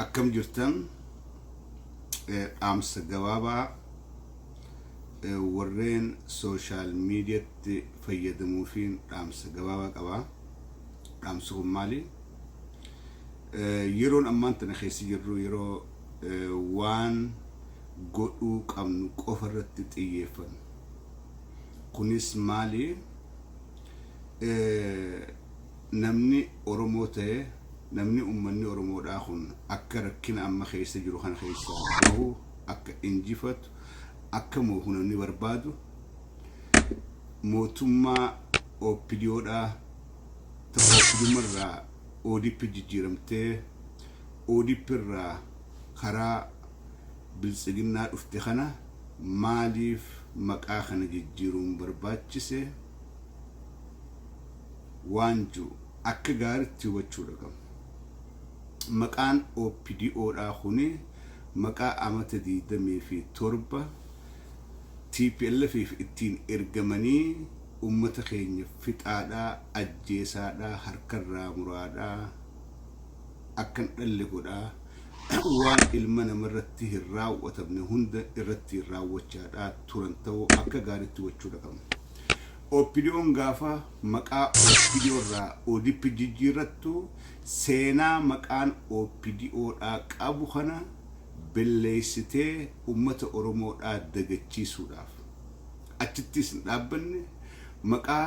Akkam jirtan dhaamsa gabaabaa warreen sooshaal miidiyatti fayyadamuufiin dhaamsa gabaabaa qaba. Dhaamsi kun maali? Yeroon ammaan tana keessa jirru yeroo waan godhuu qabnu qofa irratti xiyyeeffannu. Kunis maali? namni Oromoo ta'e, namni ummanni Oromoodhaa kun akka rakkina amma keessa jiru kana keessaa bahu, akka injifatu, akka moohu namni barbaadu mootummaa OPDOdhaa ta OPDOma irraa ODP jijjiiramtee ODP irraa karaa Biltsiginnaa dhufte kana maaliif maqaa kana jijjiiruun barbaachise? waan jiru akka gaaritti hubachuudha qabna. Maqaan OPDO dhaa kuni maqaa amata 27 TPLFif ittiin ergamanii ummata keenya fixaadhaa, ajjeesaadhaa, harkarraa muraadhaa, akkan dhalle godhaa, waan ilma namarratti hin raawwatamne hunda irrattiin raawwachaadhaa turan ta'uu akka gaaritti hubachuudha qabna. OPDOn gaafa maqaa OPDO irraa ODPtti jijjiirrattu seenaa maqaan OPDO dhaa qabu kana belleessitee ummata Oromoo dhaa dagachiisuudhaaf. Achittis hin dhaabbanne maqaa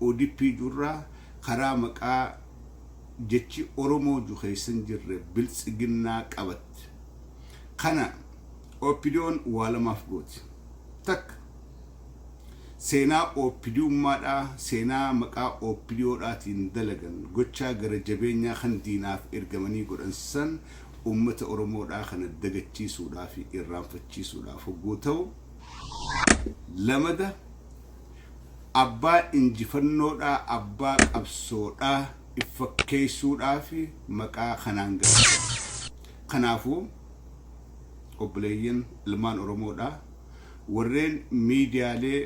ODP ju irraa karaa maqaa jechi Oromoo ju keessa hin jirre Biltsiginnaa qabatte. Kana OPDOn waa lamaaf gooti. Takka. Seenaa OPDUmmaadhaa, seenaa maqaa OPDO dhaatiin dalagan, gochaa gara jabeenyaa kan diinaaf ergamanii godhan san ummata Oromoodhaa kana dagachiisuudhaa fi irraanfachiisuudhaaf hogguu ta'u, lamada abbaa injifannoodhaa, abbaa qabsoodhaa if fakkeessuudhaaf maqaa kanaan galchan. Kanaafuu, obboleeyyan ilmaan Oromoodhaa, warreen miidiyaalee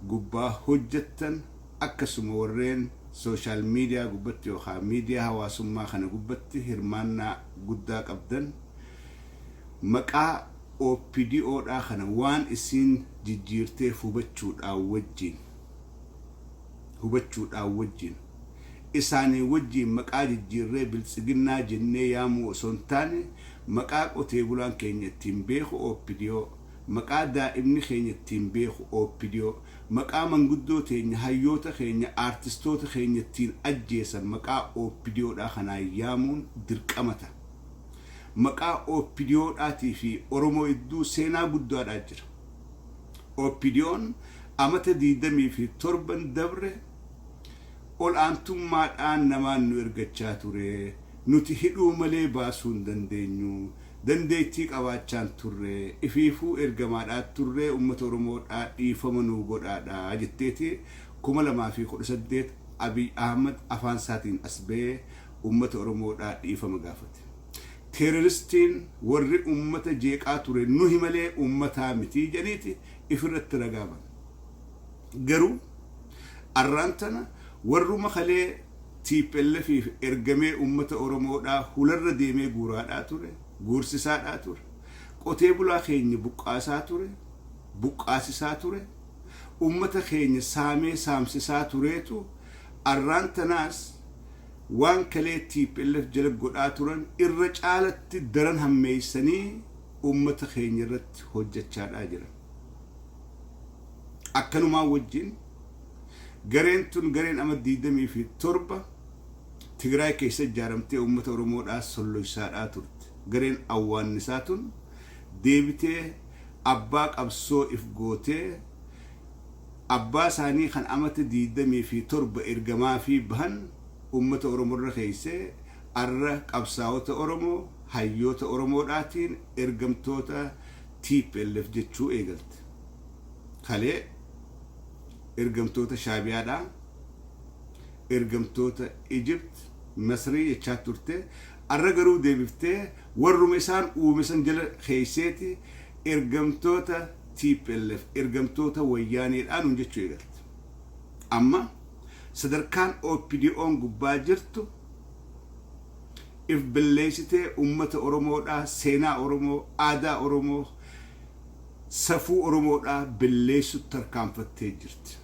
gubbaa hojjettan akkasuma warreen sooshaal miidiyaa gubbatti yookaan miidiyaa hawaasummaa kana gubbatti hirmaannaa guddaa qabdan maqaa OPDO dhaa kana waan isiin jijjiirteef hubachuudhaan wajjiin hubachuudhaan wajjiin isaanii wajjiin maqaa jijjiirree Biltsiginnaa jennee yaamuu osoo hin taane maqaa qotee bulaan keenya ittiin beeku opdo, maqaa daa'imni keenya ittiin beeku opdo, maqaa manguddoo teenya, hayyoota keenya, aartistoota keenya ittiin ajjeesan maqaa opdo dhaa kanaan yaamuun dirqama ta'a. Maqaa opdo dhaatii fi Oromoo idduu seenaa guddaa dhaa jira. Opdo'n amata 27n dabre ol aantummaadhaan namaan nu ergachaa ture, nuti hidhuu malee baasuu hin dandeenyu, dandeettii qabaachaan turre, ifiifuu ergamaadhaa turre ummata Oromoodhaa dhiifama nuu godhaadhaa jetteeti 2018 Abiy Ahmad afaansaatiin as ba'ee ummata Oromoodhaa dhiifama gaafate. Teeroristiin warri ummata jeeqaa ture nuhi malee ummataa miti jedhaniiti ifirratti ragaa banu. Garuu arraan tana warruma kalee TPLFiif ergamee uummata Oromoodhaa hularra deemee guuraadhaa ture, guursisaadhaa ture, qotee bulaa keenya buqqaasaa ture, buqqaasisaa ture, uummata keenya saamee saamsisaa tureetu arraan tanaas waan kalee tplf jala godhaa turan irra caalatti daran hammeessanii uummata keenya irratti hojjachaadhaa jiran. Akkanumaa wajjin gareen tun gareen ama 27 Tigraay keessa ijaaramtee uummata Oromoodhaa solloysaadhaa turte gareen awwaannisaa tun deebitee abbaa qabsoo if gootee abbaa isaanii kan amata 27 ergamaafii bahan uummata Oromorra keeysee arra qabsaawota Oromoo hayyoota Oromoodhaatiin ergamtoota Tplf jechuu eegalte. Kalee ergamtoota Shaabiyaadha, ergamtoota Egypt, Masrii jechaa turte. Arra garuu deebiftee warruma isaan uume san jala keeyseeti ergamtoota tplf, ergamtoota Wayyaaneedha nuun jechuu eegalte. Amma sadarkaan OPDOn gubbaa jirtu. if billeesitee ummata Oromoodhaa, seenaa Oromoo, aadaa Oromoo, safuu Oromoodhaa billeessutt tarkaanfattee jirti.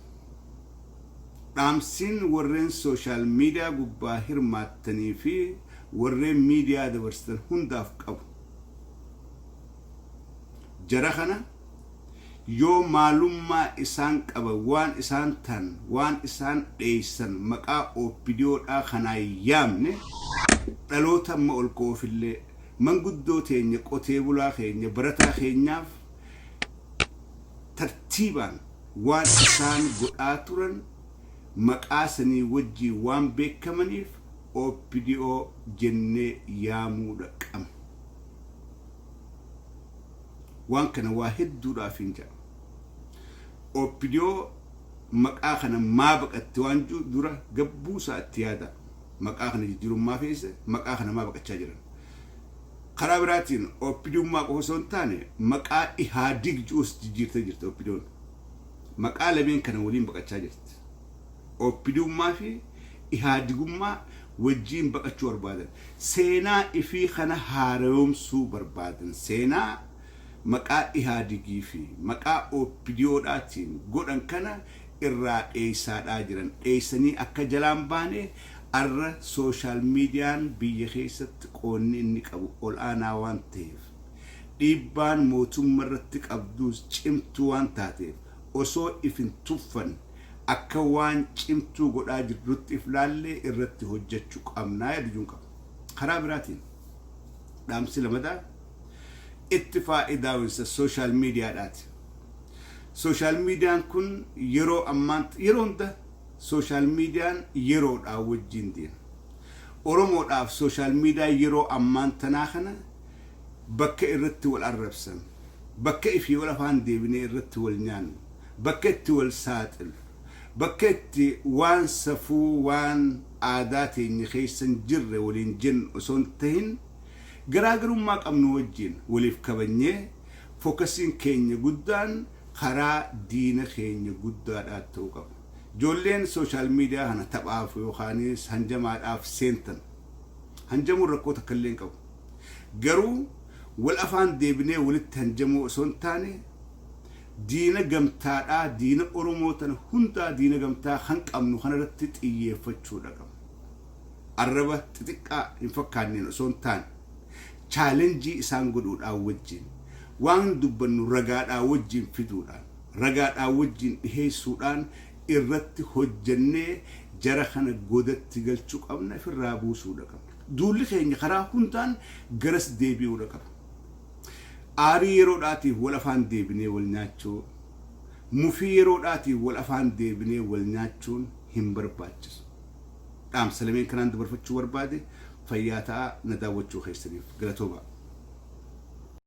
Dhaamsiin warreen social media gubbaa hirmaattanii fi warreen media dabarsitan hundaaf qabu, jara kana, Yoo maalummaa isaan qaban waan isaan tahan waan isaan dheeysan maqaa opdo dhaa kanaan yaamne dhaloota amma ol ka'uuf illee manguddoo teenya qotee bulaa keenya barataa keenyaaf tartiibaan waan isaan godhaa turan maqaa sanii wajjiin waan beekamaniif opdo jennee yaamuu dha qabna. Waan kana waa hedduudhaafiin jedha. Opdo maqaa kana maa baqatte waan jedhu dura gabbuu isaa itti yaadaa. Maqaa kana jijjiiruun maa feese, maqaa kana maa baqachaa jiran. Karaa biraatiin OPDummaa qofa osoo hin taane maqaa Ihaadig jedhus jijjiirtee jirti OPDoon. Maqaa lameen kana waliin baqachaa jirti. OPDUmmaa fi Ihaadigummaa wajjiin baqachuu barbaadan. Seenaa ifii kana haarayoomsuu barbaadan. Seenaa maqaa Ihaadigii fi maqaa OPDOdhaatiin godhan kana irraa dheeysaadhaa jiran. Dheeysanii akka jalaan baane arra social median biyya keeysatti qoonni inni qabu ol'aanaa waan taheef, dhiibbaan mootumma irratti qabduus cimtuu waan taateef Osoo if hin tuffan akka waan cimtuu godhaa jirrutti if laallee irratti hojjachu qabnaa yadujuun qaba. Karaa biraatiin dhaamsi lamadaa itti faayidaawinsa social media dhaati. Social median kun yeroo ammaan yeroo hunda social median yeroodhaa wajjiin deema. Oromoodhaaf social media yeroo ammaan tanaa kana bakka irratti wal arrabsan, bakka ifii ol afaan deebinee irratti wal nyaannu, bakka itti wal saaxillu, bakka itti waan safuu, waan aadaa teenya keessa hin jirre waliin jennu osoo hin tahin, garaagarummaa qabnu wajjiin waliif kabajnee, fokasiin keenya guddaan karaa diina keenya guddaadhaa ta'uu qaba. Ijoolleen social media kana taphaaf yookaanis hanjamaadhaaf seentan. Hanjamuun rakkoo takkallee hin qabu. Garuu wal afaan deebinee walitti hanjamuu osoo hin taane diina gamtaadhaa diina Oromoo tana hundaa diina gamtaa kan qabnu kana irratti xiyyeeffachuu dha qabna. Arraba xixiqqaa hin fakkaanneen osoo hin taane chaalenjii isaan godhuudhaa wajjiin waan dubbannu ragaadhaa wajjiin fiduudhaan ragaadhaa wajjiin dhiheessuudhaan irratti hojjannee jara kana godatti galchu qabna ifirraa buusuu dha qabna. Duulli keenya karaa hundaan garas deebi'uudha qaba. Aarii yeroodhaatiif wal afaan deebinee wal nyaachuu, mufii yeroodhaatiif wal afaan deebinee wal nyaachuun hin barbaachisu. Dhaamsa lameen kanaan dabarfachuu barbaade, fayyaa ta'aa na daawwachuu keessaniif galatoomaa.